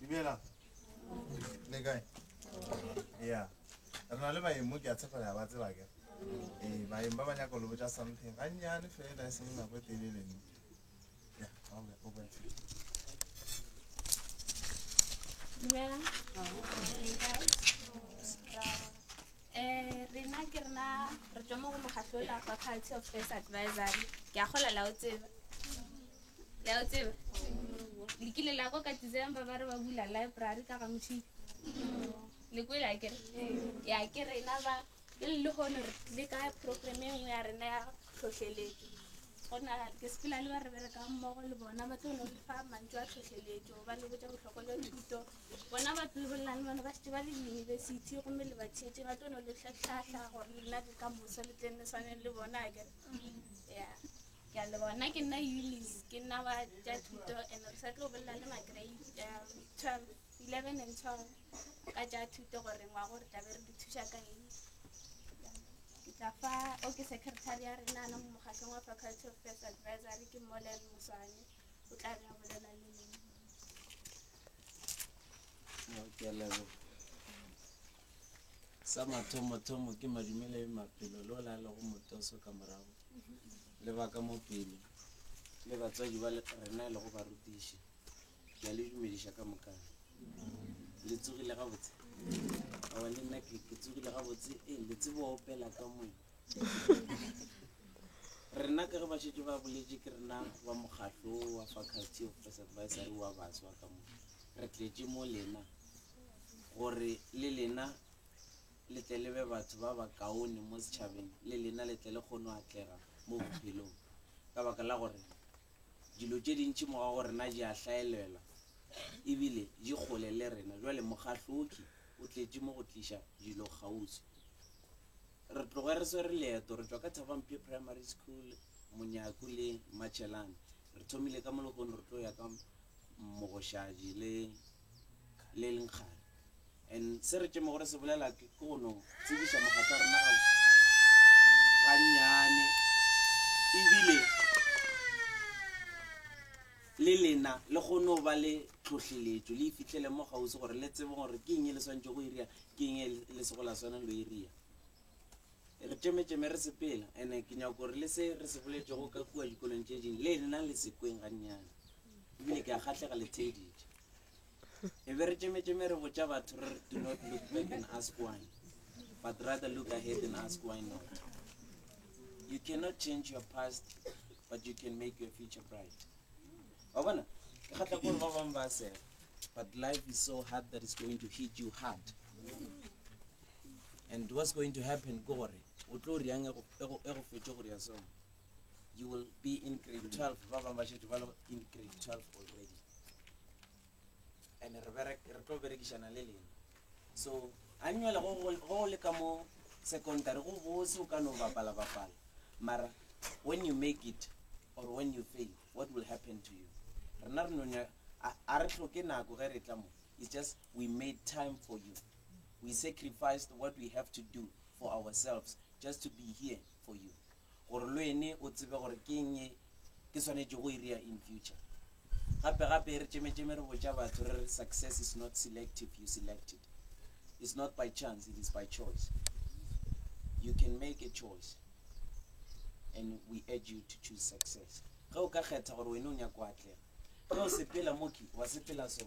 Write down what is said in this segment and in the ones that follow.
Dumela. Le kae? Yeah. Re na le baeng mo ke a tshepela ba tseba ke. Eh, baeng ba ba nyaka lo botsa something. Gannyane fela e seng nako e telele nne. Dumela. Eh, rena ke rena re tswa mo go mokgatlho ola wa faculty of first advisory ke a gola la o tseba la o tseba le kile la ko ka december ba re ba bula library ka ga mothile le kwele a kere ya ke rena ba Pele le lehono re tlile ka progerama e nngwe ya rena ya tlhohleletso. Go na ke sepela le ba re berekang mmogo le bona ba tlo no le fa mantšu a tlhohleletso ba le botša bohlokwa jwa thuto. Bona ba tlo bolelang le bona ba šetse ba le diyunibesithi gomme le ba theetše ba tlo no le tlhatlhahla gore lena le ka moso le tleng le swaneng le bona ke ya ke a le bona ke nna Eunice ke nna wa tša thuto and re sa tlo bolela le ma-grade um, twelve eleven and twelve. ka tša thuto gore ngwa gore tlabe re di thuša ka eng ke tla fa o ke secretary ya rena ana mo mokgatlhong wa faculty of first advisory ke molen moswane o tla be a bolela le lena ke lebo sa mathomo-thomo ke madumele e maphelo le o la lego motoso ka morago lebaka mo pele le batswadi ba rena e lego barutiši la le dumediša ka moka le tsogile gabotse awa le nna ke tsogile gabotse e le tsebo opela ka moe rena ka ge ba šetse ba boletse ke rena ba mokgatlo wa faculty of press advisory wa baswa ka mo re tletse mo lena gore le lena le tle le be batho ba ba kaone mo setšhabeng le lena le tle le kgone go atlega mo bophelong ka baka la gore Dilo tše dintši morago go rena di a hlaelela e bile di kgole le rena. Bjale Mogahloki o tletše mo go tliša dilo kgauswi. Re tloge re swere leeto, re tšwa ka Thabamphe Primary School, Monyaku le Machelane. Re thomile ka mo lehono re tlo ya ka Mogošadi le le leng kgale and se re tšemo gore se bolela ke go no tsebiša mogatsa rena ga gannyane ebile le lena le kgone go ba le tlhohleletšo le ifitlhele mo gausi gore le tsebe gore ke eng e le swantšhe go iria ke eng e le se go la swana lo iria Re tšemetšeme re sepela, ene ke nyako gore le se re se boletšego ka kua dikolong tše ding le lena le se kweng gannyane. Ebile ke a kgahlega le theeditše. E be re tšemetšeme re botša batho re re, Do not look back and ask why, but rather look ahead and ask why not. You cannot change your past, but you can make your future bright. Wa bona? Ke kgahla gore ba bangwe ba sega, but life is so hard that it's going to hit you hard. and what's going to happen ke gore o tlo riang e go fetše go ria song you will be in grade 12 ba bangwe ba šetše ba le in grade 12 already and re tlo berekišana le lena so annual go le ka mo secondary go bose o ka no bapala bapala mara when you make it or when you fail what will happen to you rena re nonya a re tlhoke nako ge re tla mo it's just we made time for you we sacrificed what we have to do for ourselves just to be here for you gore lo ene o tsebe gore ke eng e ke swanetše go iria e in future gape gape re tšemetšeme re botša batho re re success is not selective you selected it's not by chance it is by choice you can make a choice and we urge you to choose success ge o ka kgetha gore wene o nyako atlega ge o sepela moki wa sepela so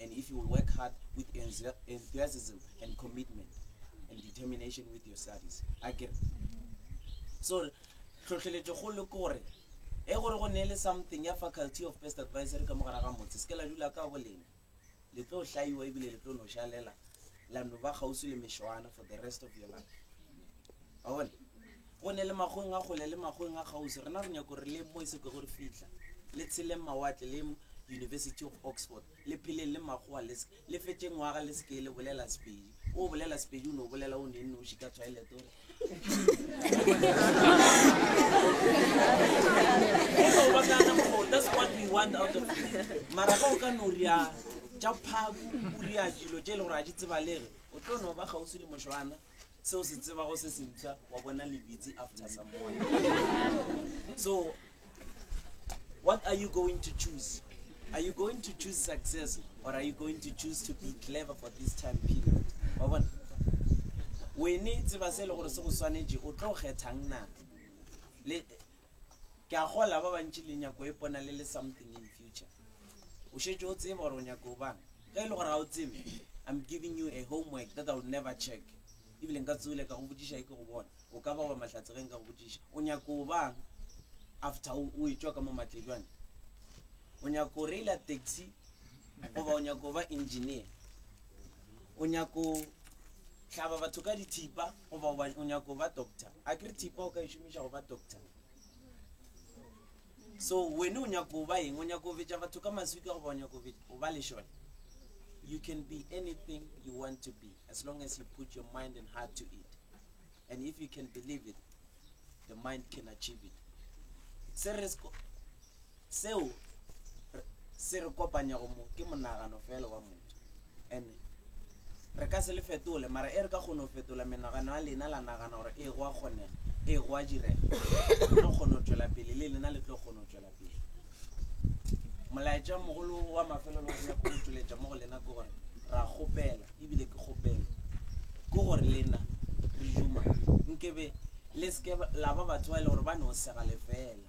And if you will work hard with enthusiasm and commitment and determination with your studies. I get So, tlhotlheletšo go le kore e gore go neele something ya faculty of best advisory ka mogara ga motse se ke la dula ka bolena le tlo hlaiwa ebile le tlo no šalela la no ba kgauswi le mešwana for the rest of your life a bone Go ne le makgoweng a kgole le makgoweng a kgauswi, rena re nyako gore le mo e se kwego re fihla, le tsheleng mawatle le University of Oxford, le pheleng le makgowa le se, le fetše ngwaga le se ke le bolela Sepedi. O bolela Sepedi o no bolela o ne noši ka toilet o mara ga o ka no ria tša phaku o ria dilo tše e le gore a di tsebalege o tlo no ba kgauswi le mošwana se o se tsebago se sentšha wa bona lebitsi after some while so what are you going to choose are you going to choose success or are you going to choose to be clever for this time period wa bona wene tseba se e le gore se go swanetše o tlo kgethang na Ke a kgola ba bantši le nyako e pona le le something in future. O šetše o tseba gore o nyako o bang. Ge e le gore ga o tsebe, I'm giving you a homework that I'll never check. Ebile nka tsole ka go botšiša e ke go bona. O ka ba wa mahlatse ge nka go botšiša. O nyako o bang after o, o etšwa ka mo Matlejwane? O nyako o reila taxi goba o nyako o ba engineer? o nyako hlaba batho ka dithipa goba o nyako ba doctor a kere thipa o ka e šomiša go ba doctor so wene o nyako ba eng o nyako betša batho ka maswika goba o nyako o ba lešole you can be anything you want to be as long as you put your mind and heart to it and if you can believe it the mind can achieve it se re Seo se re kopanyago mo ke monagano feela wa motho. And re ka se le fetole, mara e re ka kgona go fetola menagano ya lena, la nagana gore ee go a kgonega, ee go a direga, re tlo kgona go tšwela pele, le lena le tlo kgona go tšwela pele. Molaetša mogolo wa mafelelo o nyaka go tšweletša mo go lena ke gore ra kgopela, ebile ke kgopelo ke gore lena re duma nkebe le seke la ba batho ba e le gore ba no sega lefela.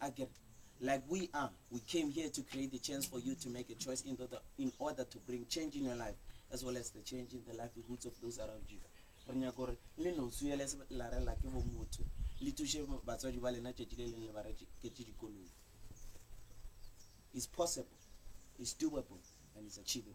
a ke re, Like we are, we came here to create the chance for you to make a choice in order, in order to bring change in your life as well as the change in the livelihoods of those around you. Re nyaka gore le nosu ya leselare la ke bomotho le thuše batswadi ba lena tšatši le leng le ba reketse dikoloi. It's possible, it's doable, and it's achievable.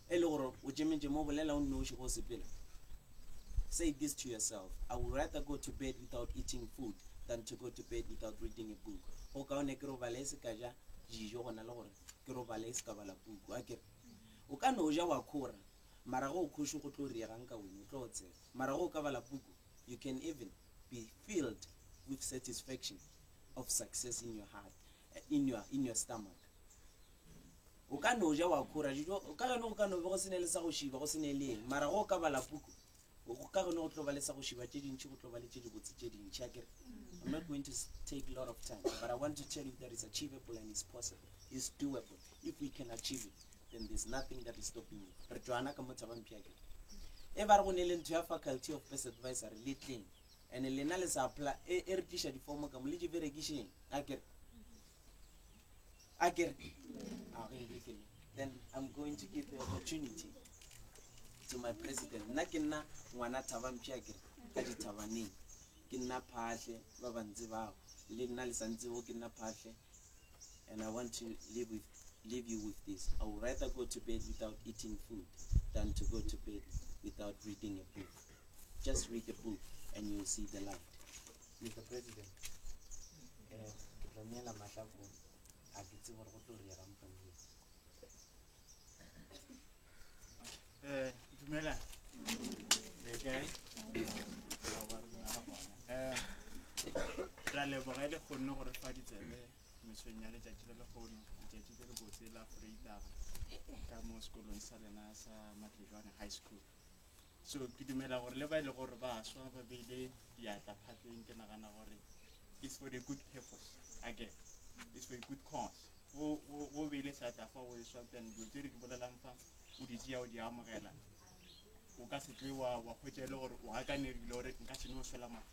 E le gore o tšemetše mo, bolela o nnoši ge o sepela. Say this to yourself, I would rather go to bed without eating food than to go to bed without reading a book. Go kaone ke robale e se ka ja dijo go na le gore ke robale e se ka bala puku. A kere o ka no ja wa khora, mara ge o khoši go tlo riega nka wena, o tlo otsela. Mara ge o ka bala puku, you can even be filled with satisfaction of success in your heart, in your, in your stomach. O ka no ja wa khura dijo, ka geno go ka no be go se ne le sa go šiba, go se ne le eng. Mara ge o ka bala puku, go ka geno go tlo ba le sa go šiba tše dintši, go tlo ba le tše dibotse tše dintši, a kere. I'm not going to s- take lot of time, but I want to tell you that it's achievable and it's possible, it's doable. If we can achieve it, then there's nothing that is stopping you. Re tšwana ka mo Thabamphi, a kere. E ba re go ne le ntho ya faculty of pest advisory, le tleng. And lena le sa apply, e, e re tliša difomo ka mo, le di berekišeng, a kere. a ke re a go ebekele then i'm going to give the opportunity to my president nna ke nna ngwana thaba mpša a kere ka dithabaneng ke nna phatlhe ba bantse bao le nna le santsego ke nna phatlhe and i want to live with leave you with this i would rather go to bed without eating food than to go to bed without reading a book just read a book and you'll see the light Mister President, eh, ke tlo neela matla ko a ke tse gore go tlo riega mokgweng Eh, dumela. Le kae? Eh, ra leboga le kgonne gore fa ditsebe mesong ya letšatši le lekgono letšatši le le botse la freitaba ka mo sekolong sa lena sa matlejwane high school So ke dumela gore le ba e le gore ba swa ba beile diatla phatleng ke nagana gore it's for the good purpose again it's for a good cause o beile seatla fa o e swa then dilo tse re di bolelang fa o di tseya o di amogela o ka se tle wa wa kgwetsa e le gore o akanerile gore nka se ne o swela mafa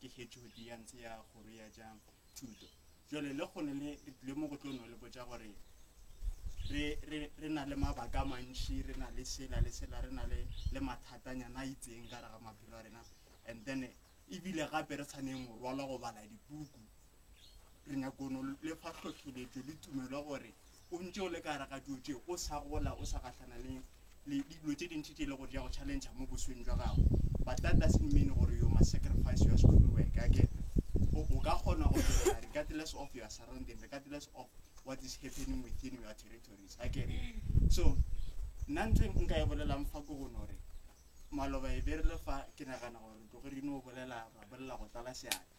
ke hetšo di ya ntse ya kgoro ya tša thuto jole le kgone le le mo go tlo no le botša gore re re re na le mabaka a mantši re na le sela le sela re na le le mathatanyana a itseng ka re ga maphelo a rena and then ebile gape re tshwaneng morwalo go bala dipuku Re nyakono le fa hlohleletšo le tumelo gore o ntše o le ka gare ga dilo tše, o sa gola, o sa gahlana le le dilo tše dintši tše e le gore di ya go challengea mo bosweng jwa gago. But that doesn't mean gore you must sacrifice your school work again. O ka kgona go dira regardless of your surrounding, regardless of what is happening within your territories again. So, nna ntho e nka e bolelang fa ko gone gore maloba e berile fa ke nagana gore tloge re no bolela ra bolela go tlala seatla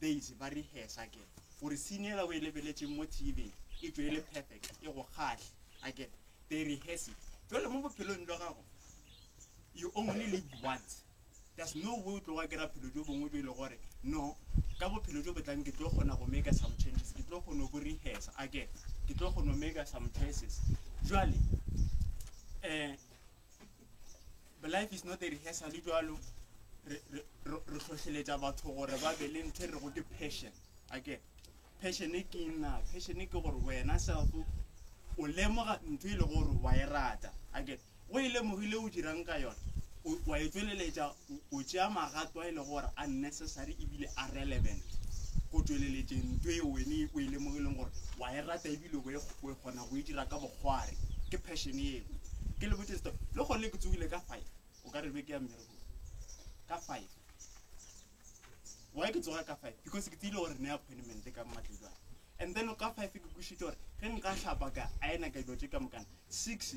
Bass ba rehearsa ke gore scene yela o e lebeletšeng mo TV e tšwe e le perfect e go kgahle akere they rehearse it jwale mo bophelong jwa gago you only live once there's no way o tlo wa kera phelo jo bongwe jo e le gore no ka bophelo jo botlang ke tlo kgona go make some changes ke tlo kgona go rehearsa akere ke tlo kgona go make some choices jwale um life is not a rehearsal le jalo re tlhohleletša batho gore ba be le ntho e rego ke passion ake passion e ke nna passion e ke gore wena self o lemoga ntho e le gore wa e rata ake o e lemogile o dirang ka yone wa e tsweleletša O, o tšea magato a e lego gore a necessary e bile a relevant go tšweleletšeng nto e wene o e lemogileng gore wa e rata e bile o e, o e kgona go e dira ka bokgware. Ke passion yeo. Ke le botše seto, le gone ke tsogile ka five, o ka re be ke ya mmerekong ka five. Why ke tsoga ka five? Because ke tsile gore ne appointment ka mmatlejwana. And then ka five ke kwišitše gore ge nka hlapa ka ayena ka dilo tše ka mokana, six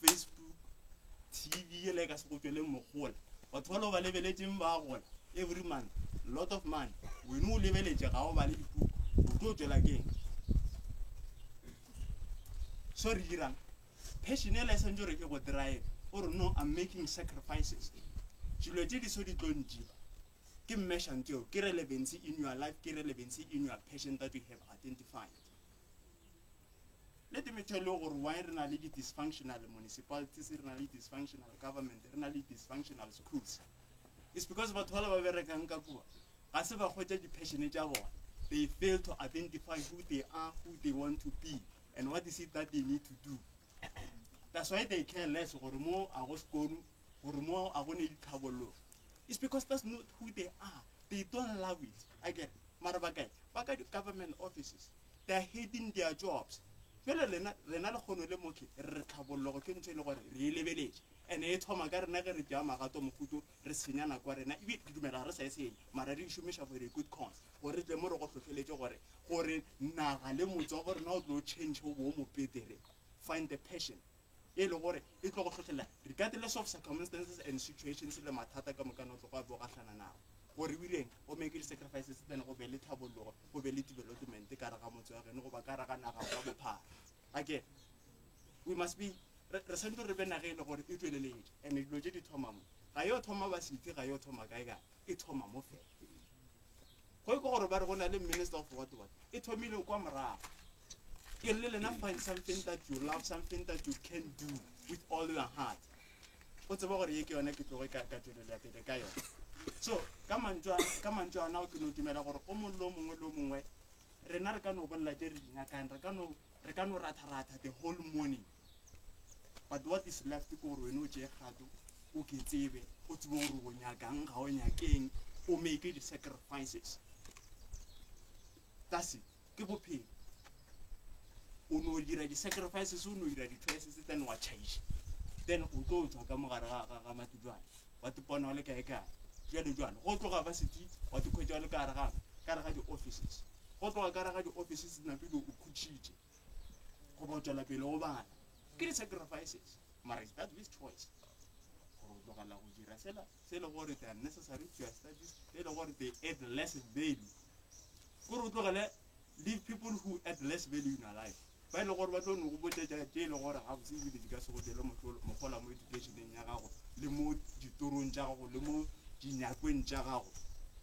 Facebook, TV yela e ka se go tšweleng mogola. Batho ba lo ba lebeletšeng ba gola every month, lot of money. Wene o lebeletše ga o bale dipuku, o tlo tšwela keng? So re dirang? Passion yela e santse gore e go drive, o re no, I'm making sacrifices. Dilo tše di so di tlo ntšiba. Ke mmeshang tseo, ke relevancy in your life, ke relevancy in your passion that you have identified. Let me tell you gore why re na le di-dysfunctional municipalities, re na le dysfunctional government, re na le dysfunctional schools. It's because batho bala ba berekang ka kua, ga se ba kgwetsa di-passion tša bona. They fail to identify who they are, who they want to be, and what is it that they need to do. That's why they care less gore mo a go sekolo, gore mo a go ne ditlhabololo. It's because that's not who they are. They don't love it. I get it. Mara ba kae? Ba ka di-government offices. They're hating their jobs. Bjale lena, rena lekgono le mokhe, re re tlhabollogo ke ntho e le gore re e lebeletše. Ene e thoma ka rena ge re tšea magato mohuto, re senya nako ya rena. Ebile ke dumela ga re sa e senya, mara re e šomiša for a good cause, gore re tle mo re go hlohleletše gore, gore naga le motse wa bo rena o tlo change o be o mo betere. Find the passion. e le gore e tlo go hlohlelela regardless of circumstances and situations le mathata ka mokana o tlogo a bo gahlana nago, gore o ileng o make di sacrifices then go be le thabollogo, go be le development ka re ga motse wa geno goba ka re ga naga ka bophara. Again, we must be re, re santse re be nage e le gore e tšweleletše and dilo tše di thoma mo, ga yo thoma ba sithe, ga yo thoma kae kae, e thoma mo fela. Go e kwa gore ba re go na le minister of what what. E thomile kwa morago. Ke re le lena find something that you love, something that you can do with all your heart. O tseba gore ye ke yona ke tloge ka ka tšwelelo ya pele ka yona. So ka mantšwa ka mantšwa ana o ke no dumela gore o mongwe lo mongwe lo mongwe rena re ka no bolela tše re di nyakang re ka no re ka no ratha ratha the whole morning. but what is left ke gore wene o tšee kgato o ke tsebe o tsebe gore o nyakang ga o nyakeng o make di-sacrifices kasi ke bophelo o no dira di-sacrifices o no dira di-choices then wa change then o tlo tswa ka mogare ga mati jale wa tipona o le kae kae jale jale go tloga ba seti wa tikhwetsa o le kare gape kare ga di-offices go tloga kare ga di-offices napele o khutšhitše goba o tšwela pele o bala ke di-sacrifices mara is that this choice gore o tlogela go dira sela se le gore the unnecessary to your studies e le gore they add less value gore o tlogele leave people who add less value in your life ba e le gore ba tlo ne go botšetša tše e le gore ga bose ebile di ka se go tšele mogola mo educationeng ya gago le mo ditorong tša gago le mo dinyakweng tša gago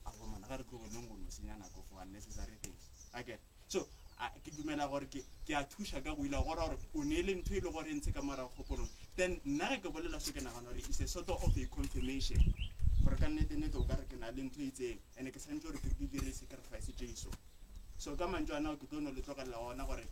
a gomana ga re tlogeleng go no senya nako for unnecessary things okay So, a, ke dumela gore ke, ke a thuša ka go ila go ra gore o neele ntho e le gore e ntshe ka morago kgopolong. Then, nna ge ke bolela so, ke nagana gore it's a sort of a confirmation, gore ka nnete-nnete o ka re ke na le ntho e itseng, and-e ke swantše gore ke di dire sacrifice tše iso. So, ka mantšu a nao ke tlo no le tlogelela gona gore,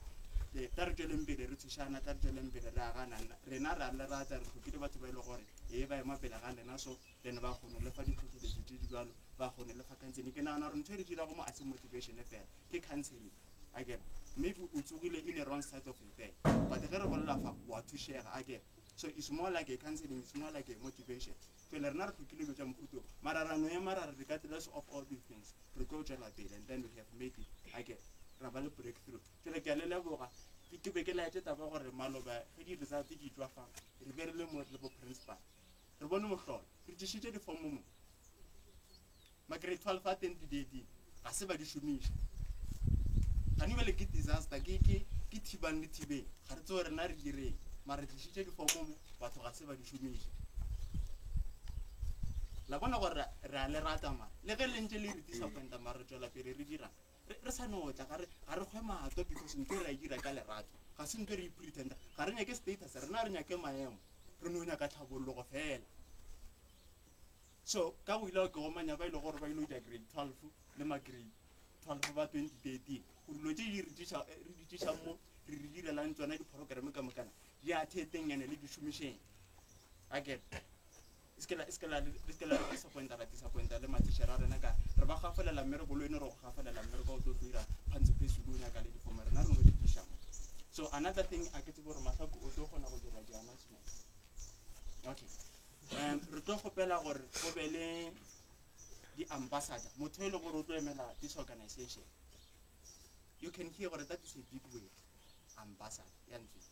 e, tla re tšweleng pele re thušana, tla re tšweleng pele re agana. Rena re a le rata, re tlhokile batho ba e le gore, e, ba ema pele ga lena. So, le ne ba kgone le fa ditlhotlheletso tse di jalo ba kgone le fa counseling ke nagana gore ntho e re dirago mo a se motivation fela ke counseling a kere maybe o tsogile in a wrong side of repair but ge re bolela fa wa thušega a kere so it's more like a counseling it's more like a motivation pele rena re tlhokile dilo tša mohuto mara ra no ema ra re regardless of all these things re tlo tšwela pele and then we have made it a kere ra ba le breakthrough pele ke a le leboga ke be ke laetse taba gore maloba ge di-result di tswa fa re be re le mo le bo principal Re bone mohlolo. Re tlišitše difomo mo. Magrade 12 a teng didieting. Ga se ba di šomiša. Gane bjale ke disaster, ke, ke, ke thibang le thibeng. Ga re tsewe rena re direng. Mara re tlišitše difomo mo, batho ga se ba di šomiša. La bona gore re a le rata mara. Le ge le ntše le re disappointa mara re tšwela pele re dirang. re, re sa no tla, ga re, ga re kgwe mato, because nto re a dira ka lerato, ga se nto re ipretenda, ga re nyake status, rena re nyake maemo, re no nyaka tlhabologo fela. So, ka go ilao ke gomanya ba ile gore ba ile ja grade 12 le ma grade 12 ba 2013, gore lo tse di re tisa, re di tisa mo, re re direlang tsona di-program ka mokana, di atheteng ene le di šomišeng. Akere? Se ke la, se ke la, le se ke la re disappointa, ra disappointa le mathišere a rena, ka re ba gafolela mme re bolo e no re go gafolela mme re ka o tlo tlo ira phantsi phesudi o nyaka le difomo rena re no di tliša mo. So another thing a ke tsebe gore Mahlaku o tlo kgona go dira di-announcement. Okay. Um, re tlo kgopela gore go be le di-ambassador motho e le gore o tlo emela this organization you can hear gore that is a big word ambassador ya ntleng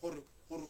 gore gore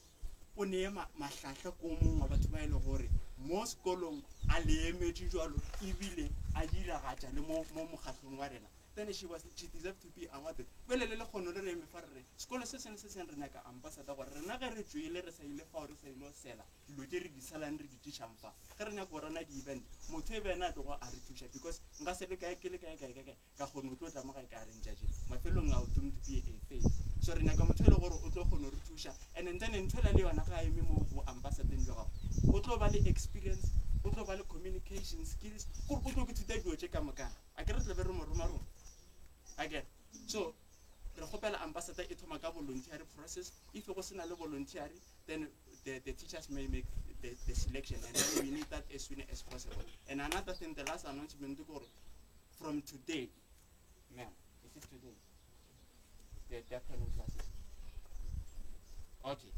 o neye mahlahla ko mongwe wa batho ba e le gore mo sekolong a leemetše jalo ebile a diragatša le mo mokgatlhong wa rena then she was she deserve to be awarded bele le lekgono le re eme fa re re sekolo se sengwe se seng re nyaka ambassador gore rena ge re tswele re sa ile fao re sa ile go sela dilo tse re di salang re di tišang fa ge re nyaka go rana di-event motho e bene a tlogo a re thuša because nka se le kae ke le kae kae kae kae ka kgone o tlo tla mo ga e ka reng jaje mafelong ao don't be a fail so re nyaka motho e le gore o tlo kgone re thuša and and then ntho e la le yona ga eme mo bo ambassadeng jwa gago o tlo ba le experience o tlo ba le communication skills gore o tlo ke thuta dilo tše ka moka a ke re tle be re mo roma rona a ke so re kgopela ambassador e thoma ka voluntary process if go sena le voluntary then the, the teachers may make the, the selection and then we need that as soon as possible and another thing the last announcement gore from today ma'am is it today the deafening classes okay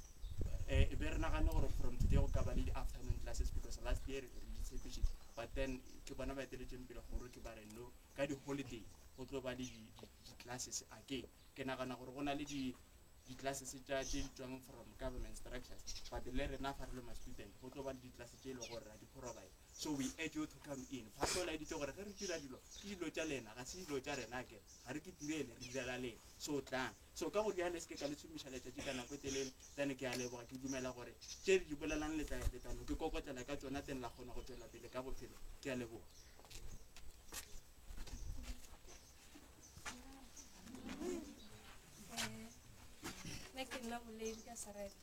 eh, e be re nagane gore from today go ka ba le di-afternoon classes because last year re di tshepišitše but then ke bona ba eteletseng pele gore ke ba re no ka di-holiday go tlo ba le di- di- di-classes again ke nagana gore go na le di- di-classes tša tše di tswang from government structures but le rena fa re le ma-student go tlo ba le di-class tše e le gore ra di provide So we urge you to come in. Pastor o laeditše gore ge re dira dilo, ke dilo tša lena, ga se dilo tša rena akere. Ga re ke direle, re direla lena. So tlang. So ka go rialo se ke ka le tšhomiša letšatši ka nako e telele, then ke a leboga, ke dumela gore tše re di bolelang le tla le tla no ke kokotlela ka tšona, then la kgona go tšwela pele ka bophelo. Ke a leboga. Nna ke nna boledi ka sereta.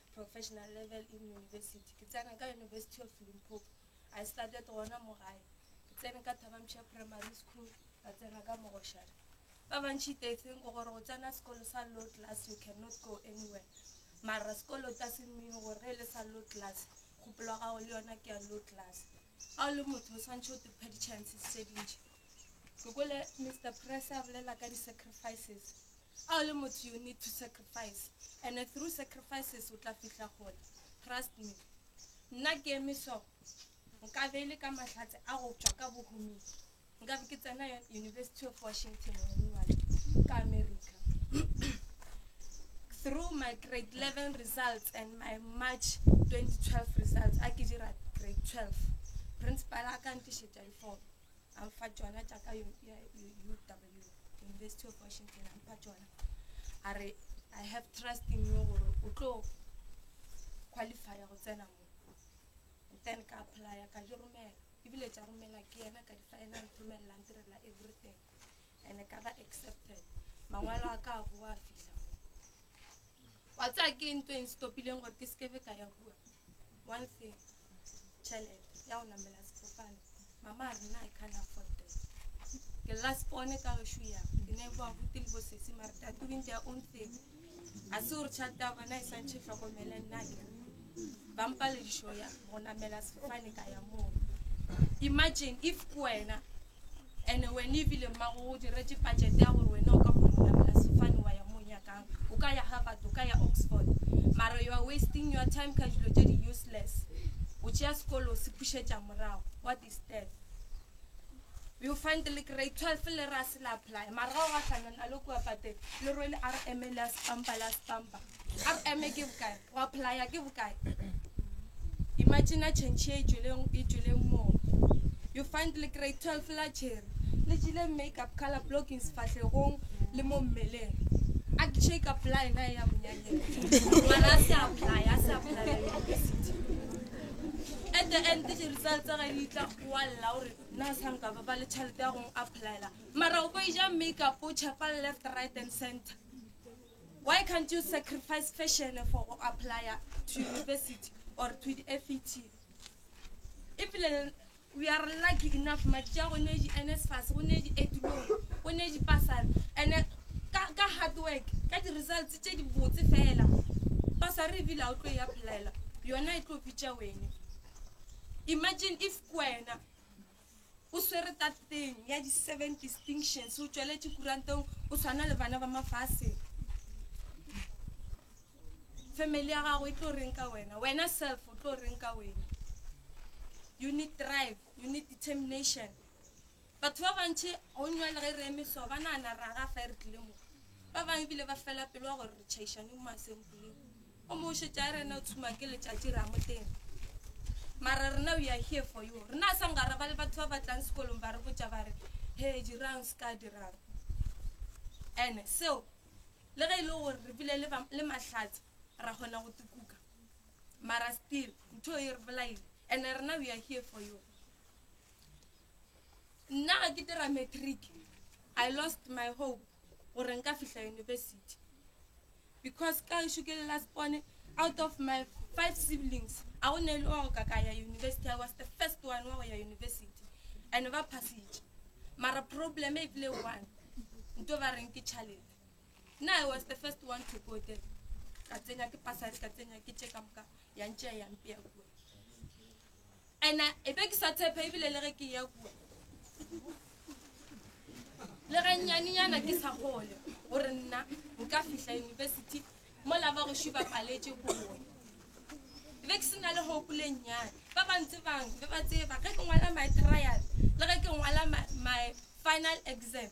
professional level in university ke tsena ka university of limpopo i started gona mo gae ke tsene ka thabamša primary school ka tsena ka mogošana ba bantšhi they think gore go tsena sekolo sa low class you cannot go anywhere mara sekolo ta se mmine gore ge e le sa low class kgopolo gago le yona ke ya low class ga o le motho o tshwanetse o tephe di-chances tse dintšhi Ke kwele Mister Press a bolela ka di sacrifices. A o le motho you need to sacrifice and through sacrifices o tla fihla kgole. Trust me. Nna ke eme so nka be e le ka mahlatse a go tšwa ka bohuming nka be ke tsena University of Washington Monuwale ka America. Through my grade 11 results and my March 2012 results a ke dira grade 12 principal a ka ntišetša di-form. a mpha tšona tša ka U- ya- U- uw university of washington a mpha tšona a re i have trust in you gore o tlo qualifya go tsena mo And then ka apply ka di romela ebile tša romela ke yena ka di final romelela ntirela everything and ka ba accepted mangwalo a ka a boa fihla mo wa tsaya ke ntho e nstopileng gore ke sekebe ka ya kua One thing, tšhelete ya go namela sefofane. Mama a re nna I can't afford that. Ke lla spone ka gešo ya ke ne boa buti le bosesi mare they are doing their own thing. A se gore tšhelete ya bona e swantšhe hlokomele nna ke ba mpaledišo ya go namela sefofane ka ya moo. Imagine if ke wena ene wena ebile mmago o diretše budget ya gore wena o ka kgona go namela sefane wa ya mo nyakang o ka ya harvard o ka ya oxford mara you are wasting your time ka dilo tše di useless o tšea sekolo o se pušetša morago what is that you find le grade twelve le ra se la apply mara ga o gahlana na le kua pateng le rwele r m le a sepampa le a sepampa r m ke bokae go apply ke bokae imagine change e tšweleng e tšweleng moo you find le grade 12 la cherry le jile make up color blocking sefahlegong le mo mmeleng a ke shake up line na ya monyanyeng mara a se apply a se apply university at the end ke jerusalem tsa ga ditla wa lla gore na sa nka ba ba le tšhelete ya gong applyela mara o ko ija make up o chepa left right and center Why can't you sacrifice fashion for go applya to university or to the FET? Ebile we are lucky enough matšatši a go ne di NSFAS, go ne di Edulong, go ne di Pasar, and ka, ka hard work, ka di results tše di botse fela. Pasar ebile a o tlo e applyela, yona e tlo bitša wena. Imagine if kwena O swere tateng ya di seven distinctions, o tšweletše kuranteng, o swana le bana ba mafase. Family ya gago e tlo reng ka wena, wena self o tlo reng ka wena. You need drive, you need determination. Batho ba bantši go nywa le ge re emehlo ba nana ra gafa e re tlile mo. Ba bangwe ebile ba fela pelo wa gore re tšhaišane mo masempoleng. O mo šetša a rena o tshuma ke letšatši ra moteng. Mara rena we are here for you. Rena sa ngara ba le batho ba batlang sekolong ba re botša ba re he dirang se ka dirang. Ene seo le ge e le gore re bile le mahlatse ra kgona go tukuka mara still ntho e re bolaile and rena we are here for you nna ga ke dira matric i lost my hope gore nka fihla university because ka gešo ke le last bone out of my five siblings a go ne le wa go ka ka ya university i was the first one wa go ya university and ba phasitše mara problem e bile one nto ba reng ke chalete nna i was the first one to go there ka tsenya ke pasate ka tsenya ke tše ka moka ya ntšea ya mpea kua ena e be ke sa tshepa ebile le ge ke ya kua le ge nyanenyana ke sa gole gore nna nka fihla university mo la ba goši ba paletse go bone e be ke se na le gopoleng nyane ba bantse bang be ba tseba ge ke ngwala my trial le ge ke ngwala my final exam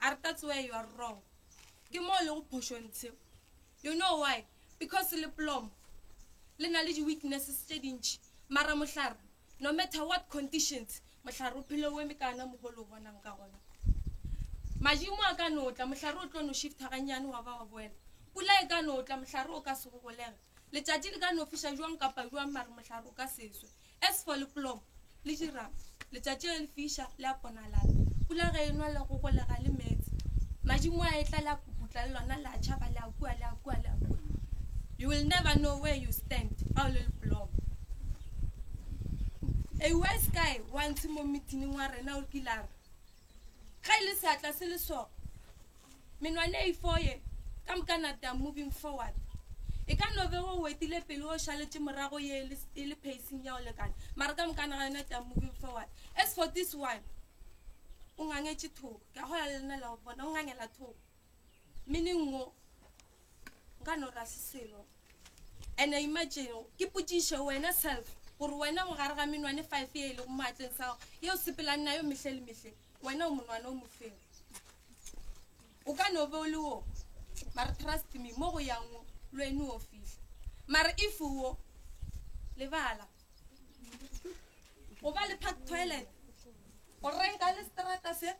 a re that's where you are wrong ke mo le go phošo ntshe you know why because le plom le na le di-weaknesses tše dintšhi mara mohlare no matter what conditions mohlare o phele o eme ka ana mogo le o bonang ka gona madimo a ka notla mohlare o tlo no shifta gannyane wa ba wa boela pula e ka notla mohlare o ka se go golega Letšatši le ka no fiša jwang kapa jwang mare mohlare o ka se swe. As for liplomo le jirama, letšatši ge le fiša le a ponalala. Pula ge e nwa le go golega le meetse. Madimo a etla le a puputla le lona le a tšhaba le a kua le a kua le a kua. You will never know where you stand ga o le liplomo. A wise guy wa ntshe mo meetingeng wa rena o kile a re Ge e le seatla se le so, menwana e ifo ye, ka moka nata moving forward. E ka no be o wetile pele o šaletše morago ye e le, e le pacing ya o lekana. Mara ka moka naga yona ta moving forward. As for this one, o ngangetše thoko. Ke a gola le lena la o bona, o ngangela thoko. Meaning wo nka no ra se selo. And imagine ke putishe wena self gore wena mo gare ga menwane five ye e le go maatleng sa gago ye o sepelang na yo mehle le mehle wena o monwana o mofero. O ka no be o le wo mara trust me mo go yang wo lo ene o fihla. Mara if wo lebala go ba le park toilet o renka le strata se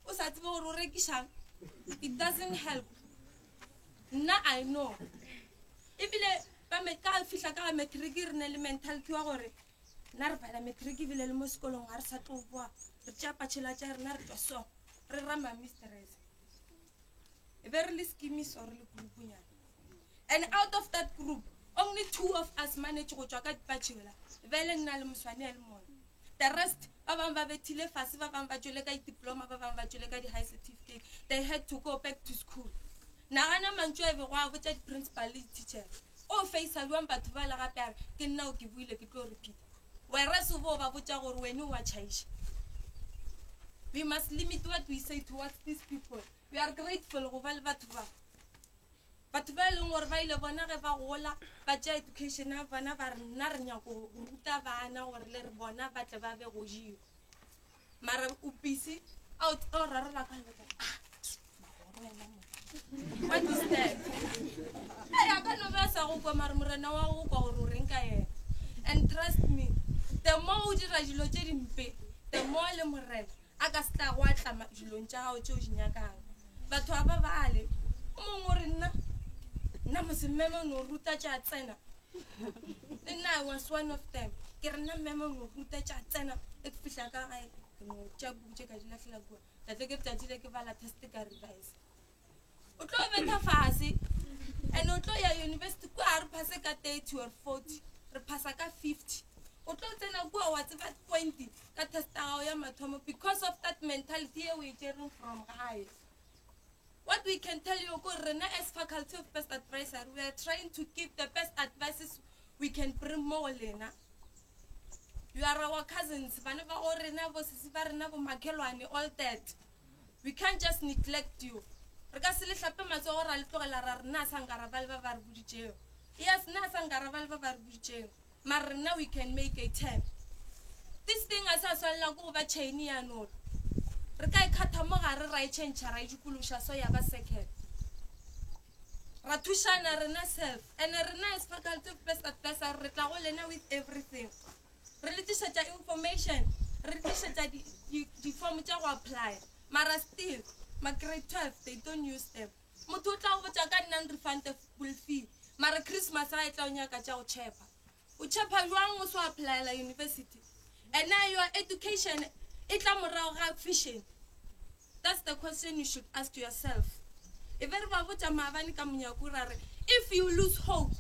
o sa tsebe gore o rekišang it doesn't help nna i know ebile ka fihla ka ga matric re ne le mentality wa gore nna re bala matric ebile le mo sekolong ga re sa tlo boa re tšea patšhela tša rena re tswa so re rama mistress e be re le skimiso re le grouponyana And out of that group, only two of us manage go tšwa ka dipatšhi yola, bjale nna le moswane ya le mone. The rest, ba bang ba bethile fase, ba bang ba tšwele ka diploma, ba bang ba tšwele ka di-high certificate. They had to go back to school. Nagana mantšu a bego a botša di-principal le di-teachers. O faisa bjang batho ba le gape a re, ke nna o ke buile ke tlo repeater. Whereas o bo o ba botša gore wene o a tšhaiša. We must limit what we say towards these people. We are grateful go ba le batho ba. Batho ba e leng gore ba ile bona ge ba gola ba tšea education ya bona ba re nna re nyako ruta bana gore le re bona ba tle ba be go jewa mara o busy a o o rarela ka leka ah magoro wena mo what is that a ya ka no ba sa go kwa mara morena wa go kwa gore o reng ka yena and trust me the more o dira dilo tše dimpe the more le morena A ka se tla go atlama dilong tša gago tšeo di nyakago batho ba ba bale. O mongwe o re, Nna, nna mose mmeme o no ruta tša tsena. Le nna I was one of them. Ke re, Nna mmeme o no ruta tša tsena. E ke fihla ka gae, ke no tša buku tše ka di lahlela kua. Ka tla ke letšatši le ke bala test ka revise. o tlo betha fase and o tlo ya university kua ga re phase ka thirty or forty re phasa ka fifty o tlo tsena kua wa tseba twenty ka testa gago ya mathomo because of that mentality e o e jereng from gae what we can tell you ko rena as faculty of best advisor we are trying to give the best advices we can bring mo go lena you are our cousins bana ba go rena bosisi ba rena bomakhelwane all that We can't just neglect you. Re ka se le hlape matsogo ra le tlogela ra re na sa nkaraba le ba ba re boditšego. Yes, na sa nkaraba le ba ba re boditšego. Mara rena we can make a turn. This thing a sa swanela ko go ba chain ya nolo. Re ka e khatha mo gare ra e change ra e dikološa so ya ba circle. Ra thušana rena self. Ene rena as faculty of best advisor re tla go lena with everything. re le tlišetša information re le tlišetša di, di, di form tša go apply mara still ma grade 12 they don't use them motho o tla go botša ka nna refund the full fee mara christmas ga e tla o nyaka tša go chepa o chepa jwang o so applyela university and your education e tla morago ga fišeng That's the question you should ask yourself. E be re ba botša maabane ka monyako ra re, If you lose hope,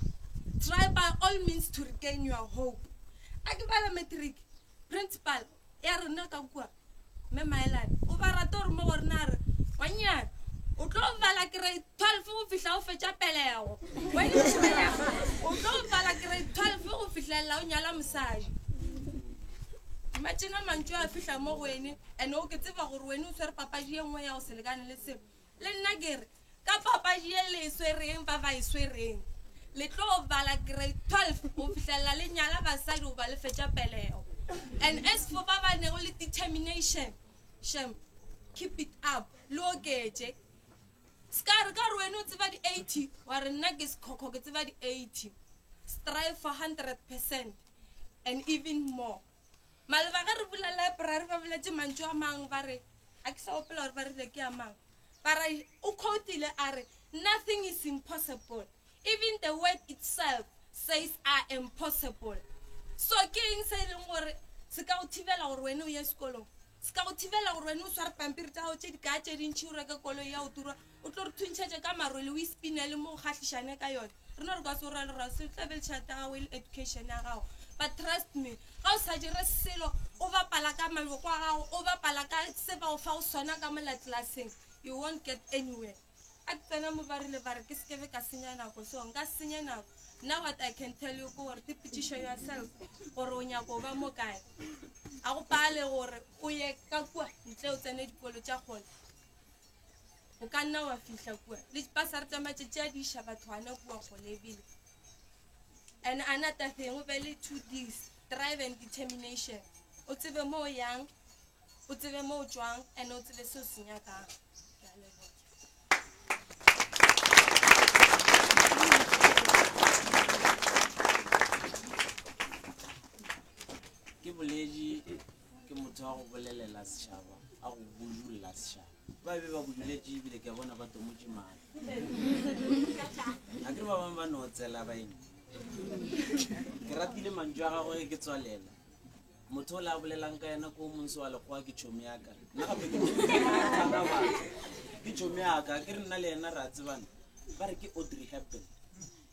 try by all means to regain your hope. A ke bala matric, principal ya rena ka kua, Mme Maelane, o ba rata gore mo go rena a re, Ngwanyana, o tlo bala grade 12 go fihla o fetša pelego. When you belego, o tlo bala grade 12 go fihlelela o nyala mosadi. Imagine a mantšu a fihla mo go wene and o ke tseba gore wene o swere papadi ye nngwe ya go se lekane le seo. Le nna ke re ka papadi ye le e swereng ba ba e swereng le tlo bala grade 12 go fihlelela le nyala basadi goba le fetša pelego. And as for ba ba nego le determination, shem, keep it up, le oketše. Ska re ka re wena o tseba di 80 wa re nna ke sekhokho ke tseba di 80. Strive for 100 percent and even more. Maloba ge re bula library ba boletše mantšu a mang ba re ga ke sa opela gore ba rile ke a mang ba ra o quotile a re nothing is impossible even the word itself says I am possible. So ke eng se e leng gore se ka go thibela gore wena o ye sekolong? se ka go thibela gore wena o sware pampiri tsa gago tse di kaa tse dintšhi o reke koloi ya go turwa o tlo re thuntšhetse ka marwele o ispinele mo o kgatlhišane ka yone re no re ka se o ra le rase o tlabele tšhelete ya gago e le education ya gago but trust me ga o sa dire selo o bapala ka maloko a gago o bapala ka se ba o fa go sona ka mola tlelaseng you won't get anywhere Ak tsena mo ba rile ba re ke se kebe ka senya nako, so nka senye nako. Nna what I can tell you ke gore te potšiše yourself gore o nyako o ba mo kae. A go pale gore o ye ka kua ntle o tsene dikolo tša kgole. O ka nna wa fihla kua le dipasare tša matšatši a di iša batho gana kua kgole ebile. And another thing o be le two Ds, drive and determination. O tsebe mo o yang. o tsebe mo o tšwang and o tsebe se o se nyakang ke boledi ke motho wa go bolelela setšhaba a go budulela setšhaba ba be ba buduletše ebile ke a bona ba tomotše mane ga ke ba bangwe ba no tsela baeng ke ratile mantšu a gagwe ke tswalela Motho o le a bolelang ka yena ko monse wa lekgowa ke tšhomi yaka. Nna gape ke tshwara batho. Ke tšhomi yaka. Ke re nna le yena re a tsebana. Ba re ke Audrey Hepburn.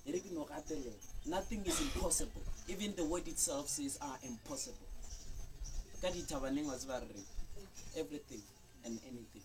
E re ke no gatelela. Nothing is impossible. Even the word itself says are ah, impossible. Ka dithabaneng wa tseba re re everything and anything.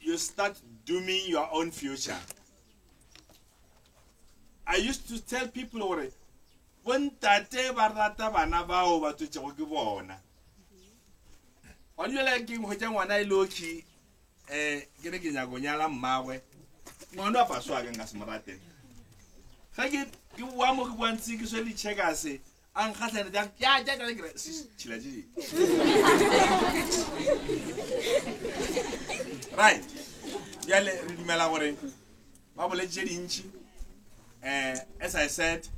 You start dooming your own future. I used to tell people gore bontate ba rata bana bao ba tswetšego ke bona wa dulela ke nkgwetša ngwana e lokhi um eh, ke re ke nyako nyala mmagwe ngwana wa paso ake nka se mo rate ge ke boa mo ke boantse ke swele checkase a nkgahlane bjang ya ja jale kere tšhila je right bjale re dumela gore ba boletse dintši um as i said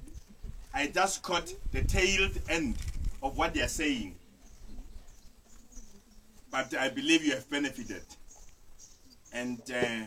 i just caught the tailed end of what they are saying but i believe you have benefited and uh,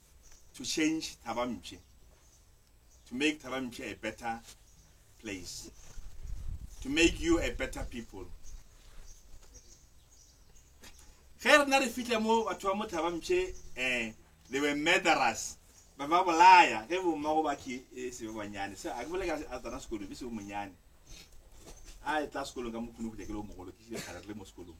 to change Thabampshe, to make Thabampshe a better place, to make you a better people. ge rena re fitlha mo batho ba mo Thabampshe um they were murderers ba ba bolaya ge bommago ba ke e se ba banyane so a ke bole ka a tsana sekolong be se bo monyane a e tla sekolong ka mokgone go ja ke le o mogolo ke šile kgare re le mo sekolong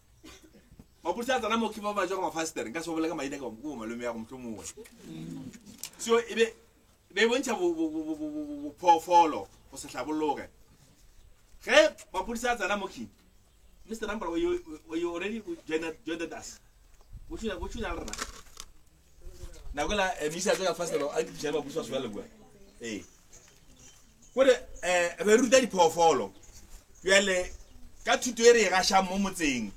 mapodisa a tsena mo ke ba ba jwa mafastere nka se bole ka maina ka mo go malome ya go motho mongwe so e be be bontšha bophoofolo go se hlabologe ge mapodisa a tsena mo king mr number you already joined us o tshwenya le rena nakola eh, misa tseka faselo a ke tšhela mabuso a sola lebua ee eh. kore eh re ruta diphoofolo bjale ka thuto e re e gašang mo motseng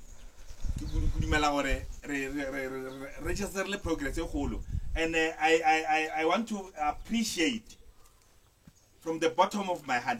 ke dumela gore re register le progress e kgolo and uh, I, I, I, I want to appreciate from the bottom of my heart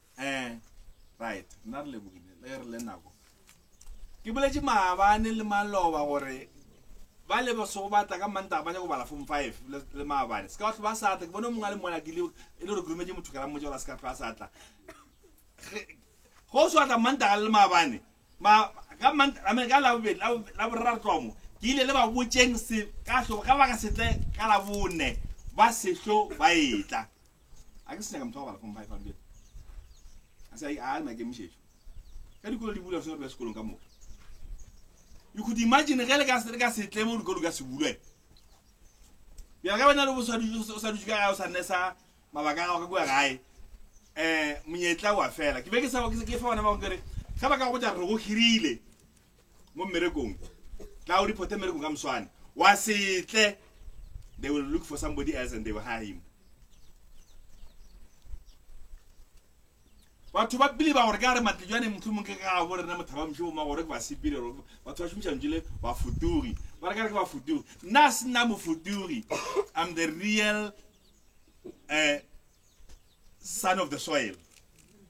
Eh, right, nna re lebogile, le re le nako. Ke boletše maabane le maloba gore ba le ba sego batla ka manta ba nyako bala form 5 le le maabane. Se ka batho ba sa tla, ke bone mongwe a le mona ke le e le re grumetše motho ka la mmotša gore a se ka tlhoa sa tla. Ge- Go se batla manta le maabane. Ma ka manta, I mean ka la bobedi, la bo- la boraro tlomo. Ke ile le ba botšeng se ka hlo ka baka setle ka la bone ba sehlo ba etla. a ke se nyaka motho wa go bala form five a dubela a se a le maikemišetšo ka dikolo di bula re sengwe re ba sekolong ka moka you could imagine ge le ka se- le ka setle mo dikolo ka se bulwe bjale ka wena le bo sa dutše- o sa dutše ka gae o sa nesa mabaka a gago ka kua gae um monyetla wa fela ke be ke sa ke ke fa bona bangwe kere ge ba ka go ja re go hirile mo mmerekong tla o reporte mmerekong ka moswane wa setle they will look for somebody else and they will hire him batho ba pele ba gore ka re matlejwane motlhomong ke ga bo rena mothaba moshe boma gore ke ba sepile gore batho ba šomiša ntšile ba futugi ba re ka re ke ba futugi nna a se nna mofutugi i'm the real uh, son of the soil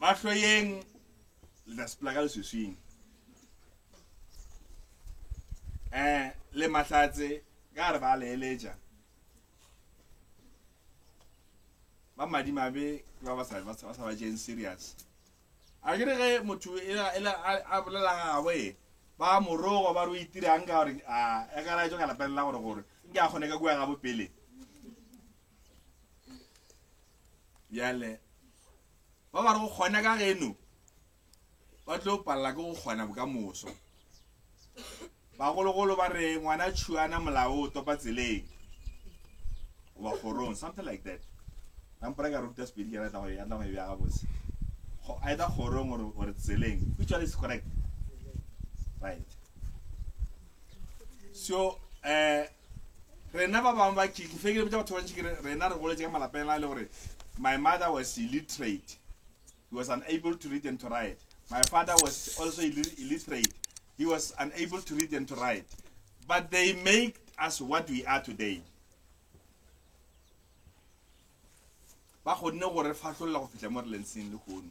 ba hloyeng le tla sepela ka leswiswing um le mahlatse ka re ba leeletša ba madimabe ke ba ba sa ba sa- ba sa ba jeng serious a kere ge motho e la- e la- a a bolela gabo e ba morogo ba re o itirang ka gore a e ka laetso ka lapeng la gore gore nke a kgone ka kua gabo pele bjale ba ba re go kgona ka geno ba tlo palela ke go kgona bokamoso bagologolo ba re ngwana tšhuana molao o topa tseleng goba kgorong something like that kampore ka ruta sepedi kere tlago ya tlago e bja gabotse either kgorong gore tseleng which one is correct right so um Rena ba bang ba ke ke fekele botsa batho ba ntši ke re rena re goletse ka malapeng a le gore my mother was illiterate he was unable to read and to write my father was also illiterate he was unable to read and to write but they make us what we are today ba kgonne gore fatlholela go fitlha mo re leng seng le kgono